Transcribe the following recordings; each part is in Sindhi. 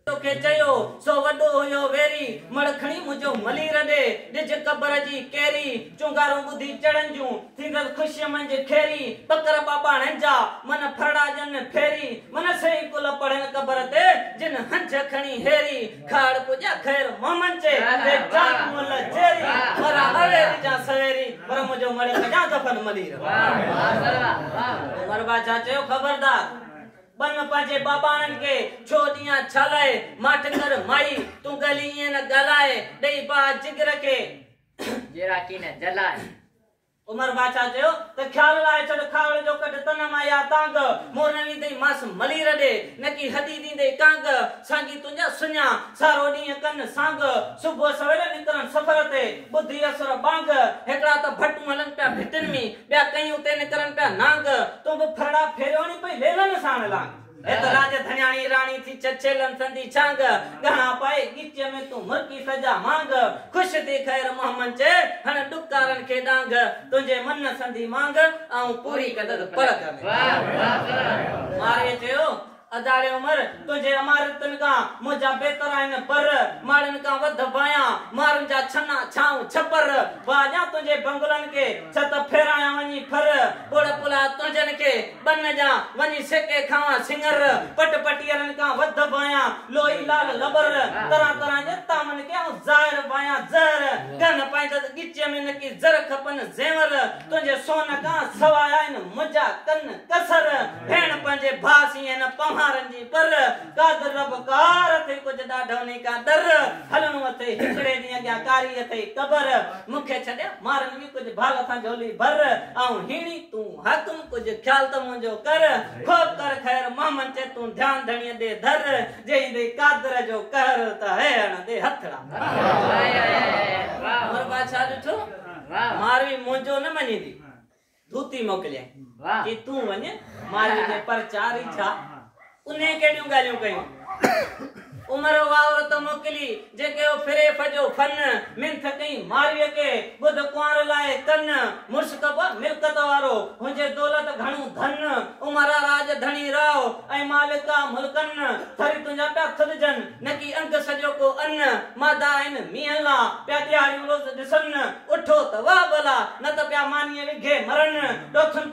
توکي چيو سو وڏو هيو ويري. مڙ کڻي منهنجو ملير ڏي. ڏج قبر جي ڪيري. چونگارون ٻڌي چڙن جون. ٿيندس خوشيء منجهه کيري. ٻڪر ٻاٻاڻن جا من ڦرڙا ڄن ڦيري. من سهي ڪل پڙهن قبر تي جن هنجهه کڻي هيري. کهڙ پڄا خير محمد چي تي جان منهن لا چيري. مران اويري جان سويري. پر منهنجو مڙ ڪجان دفن ملير. عمر باچا چيو خبردار. ٻن پنهنجي ٻاٻاهن کي ڇو ڏيان ڇالاء ماٺ ڪر مائي تون ڳلي ائين نه ڳالهاء ڏئي باهه جگر کي. جيرا ڪي نه جلاء. عمر باچا چيو ته خيال لاهي ڇڏ کاهوڙ جو ڪڍ تن مان يا تانگ مور نه ويندئي ماس ملير ڏي نڪي هدي ڏيندئي ڪانگ سانگي تنهنجا سڃا سارو ڏينهن ڪن سانگ صبح سويل نڪرن سفر تي ٻڌي اسر ٻانگ هڪڙا ته ڀٽون هلن پيا ڀٽين ۾ ٻيا ڪئين اتي نڪرن پيا نانگ. تون به ڦرڙا ڦيريو ني پئي ليلن ساڻ لانگ. هي ته راڄ ڌڻياڻي راڻي ٿي چچيلن سندي ڇانگ. ڳهڻا پائي ڳچيء ۾ تون مرڪي سجا مانگ. خوش ٿي خير محمد چئي هڻ ڏڪارن کي ڏانگ. تنهنجي من سندي مانگ آئون پوري ڪندس پرڳ ۾. مارئيء چيو اڌاڙي عمر تنهنجي عمارتن کان منهنجا بهتر آهن پر ماڙن کان وڌ بايان مارن جا ڇنا ڇانو ڇپر واهه ڏيان تنهنجي بنگلن کي ڇت ڦيرايان وڃي ڦر ٻوڙ پلاء تنهنجن کي ٻن ڏيان وڃي سيڪي کاوان سڱر پٽ پٽيهرن کان وڌ بايان لوئي لال لٻر طرح طرح جي طعمن کي آئون ظاهر بايان زهر ڪهه نه پائيندس ڳچيء ۾ نڪي زر کپن زيور تنهنجي سونهن کان سواء آهن منهنجا ڪن ڪسر، ڀيڻ پنهنجي ڀاء سين هن پنهارن جي پر، قادر رب قهار اٿئي ڪجهه ڏاڍوني ڪا ڏر، هلڻو اٿئي هڪڙي ڏينهن اڳيان ڪاري اٿئي قبر، مون کي ڇڏيا مارن وي ڪجهه ڀال سان جهولي ڀر، آئون هيڻي تون حاڪم ڪجهه خيال ته منهنجو ڪر، خوب ڪر خير محمد چي تون ڌيان ڌڻيء ڏي ڌر، جي ايندئي قادر جو قهر ته هيهڻندي هٿڙا. مور بادشاهه ڏٺو. ماروي منهنجو نه مڃيندي ڌوتي موڪليائين چي تون وڃ ماروي ۾ پرچا ريجھاء انهي ڪهڙيون ڳالهيون ڪيون عمر اها عورت موڪلي جيڪي او فريف جو فن منٿ ڪئي ماروي کي ٻڌ ڪنوار لاء ڪن مشڪ به ملڪت وارو هجي دولت گھڻو ڌن عمر آ راڄ ڌڻي راء ۽ مالڪ آ ملڪن ٿري تنهنجا پيا کلجن نڪي انگ سڄو ڪو ان مادا آهن مينهن لا، پيا ڏيهاڙيون روز ڏسن، اٺو ته واه ڀلا، نه ته پيا مانيء وگهي مرن، ڏوٿن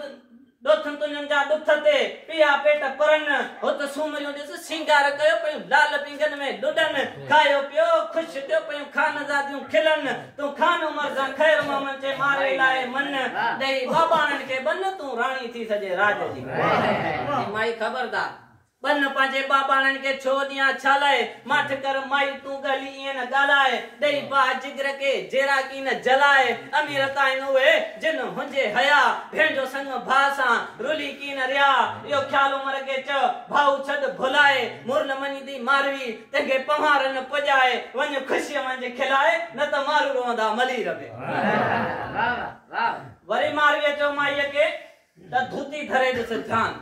ڏوٿن تنهنجن جا ڏٿ تي، پيا پيٽ پرن، هت سومريون ڏس سينگار ڪيو پيون لال پينگهن ۾ لڏن، کايو پيو خوش ٿيو پيون خانزاديون کلن، تون خان عمر سان خير محمد چي مارئي لاء من، ڏئي ٻاٻاڻن کي ٻن، تون راڻي ٿي سڄي راڄ جي. چي مائي خبردار! بنهه پنهنجي ٻاٻاڻن کي ڇو ڏيان ڇا لاء ماٺ ڪر مائي تون ڳهلي ايئن نه ڳالهاء ڏئي باهه جگر کي جيراڪي نه جلاء امير ته آهن اهي جن هنجي هيا ڀين جو سڱ ڀاء سان رلي ڪي نه رهيا اهو خيال عمر کي چئه ڀائو ڇڏ ڀلاء مور نه مڃيندي ماروي تنهنکي پنهوار نه پڄاء وڃ خوشيء منجهه کلاء نه ته مارو روئندا ملير به وري مارويء چئو مائيء کي. ته ڌوتي ڌري ڏس ڌيان.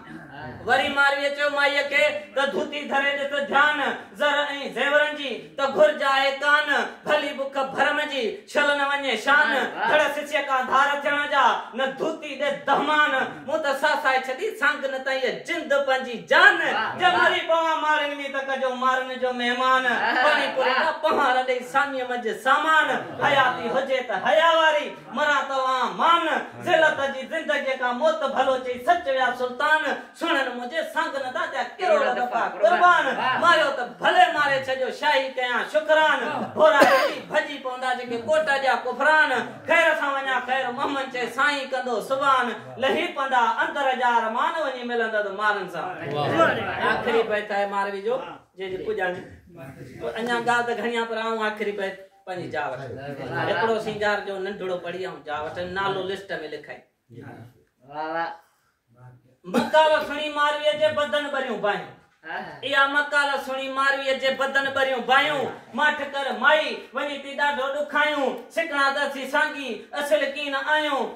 وري مارويء چيو مائيء کي ته ڌوتي ڌري ڏس ڌيان، زر ۽ زيورن جي ته گهرج آهي ڪان، ڀلي بک ڀرم جي ڇل نه وڃي شان، ڌڙ سڇيء کان ڌار ٿيڻ جا، نه ڌوتي ڏي دهمان، مون ته ساسائي ڇڏي سانگ نه ته هيء جند پنهنجي جان، جي مري پوان ماڙين ۾ ته ڪجو مارن جو مهمان، پاڻي پوري جا پهار ڏئي ساميء منجهه سامان، حياتي هجي ته حيا واري. مران توهان مان، ذلت جي زندگيء کان موت ڀلو چئي سچ ويا سلطان، سهڻن منهنجي سانگن دا ٿيا ڪروڙ دفعا قربان، ماريو ته ڀلي ماري ڇڏيو شاهي ڪيان شڪران، ڀورا ڪري ڀڄي پوندا جيڪي ڪوٽ جا ڪفران، خير سان وڃان خير محمد چئي سائين ڪندو سبحان، لهي پندا اندر جا ارمان وڃي ملندد مارن سان. آخري بيت آهي ماروي جو جنهن جي پڄاڻي ڪو اڃان ڳالهه ته گهڻي آهي پر آئون آخري بيت. پنهنجي جاء وٺ هڪڙو سينگار جو ننڍڙو پڙي آئون جاء وٺ نالو لسٽ ۾ لکائي واھ واھ مقاله سڻي ماروي جي بدن بريون بايون ايا مقاله سڻي ماروي جي بدن بريون بايون ماٺ ڪر مائي وڃي تي ڏاڍو ڏکايون سکڻا ته سي سانگي اصل ڪين آيون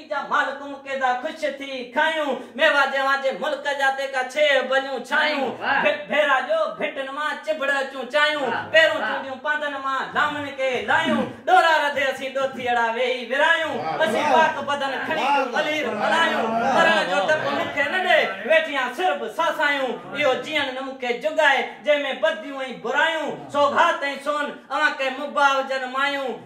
جا مالڪون ڪيدا خوش ٿي کايون. ميوا جيوان جي ملڪ جا تيکا ڇيهه ڀليون ڇايون. ڀٽ ڀيرا جو ڀٽن مان چڀڙ اچون چايون. پيرون چونڊيون پانڌن مان لامن ڪي لايون. ڏورا رڌي اسين ڏوٿيئڙا ويهي ورايون. اسين پاڪ بدن کڻي ڪيون ملير ملايون. مرڻ جو ڊپ مون کي نه ڏي ويٺيان سر به ساسايون. اهو جيئڻ نه مون کي جڳائي جنهن ۾ بديون ۽ برايون. سوغات ۽ سون اوهان ڪي مباح هجن مايون.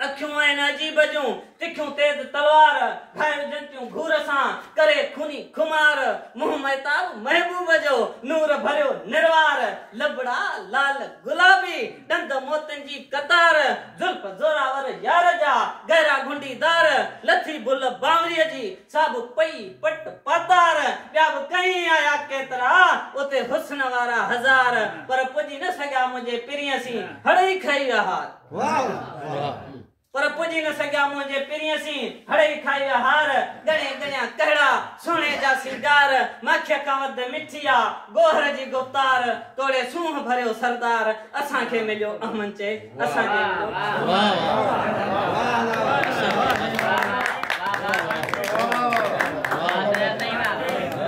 اکيون آهن عجيب جون تکيون تيز تلوار، ڀائر جنتيون گهور سان ڪري خوني خمار، منهن مهتاب محبوب جو نور ڀريو نروار، لبڙا لعل گلابي ڏند موتين جي قطار، زلف زوراور يار جا گهرا گهنڊي دار، لٿي بل بانوري جي سا به پئي پٽ پاتار، ٻيا به ڪهين آيا ڪيترا اتي حسن وارا هزار، پر پڄي نه سگهيا منهنجي پرينء سين هڙئي کئي ويا هار. پر پڄي نه سگهيا منهنجي پرينء سين، هڙئي کائي ويا هار، ڳڻي ڳڻيا ڪهڙا، سهڻي جا سينگار، ماکيء کان وڌ مٺي آ، گوهر جي گفتار، توڙي سونهن ڀريو سردار، اسان کي مليو اهمن چئي، اسان کي مليو.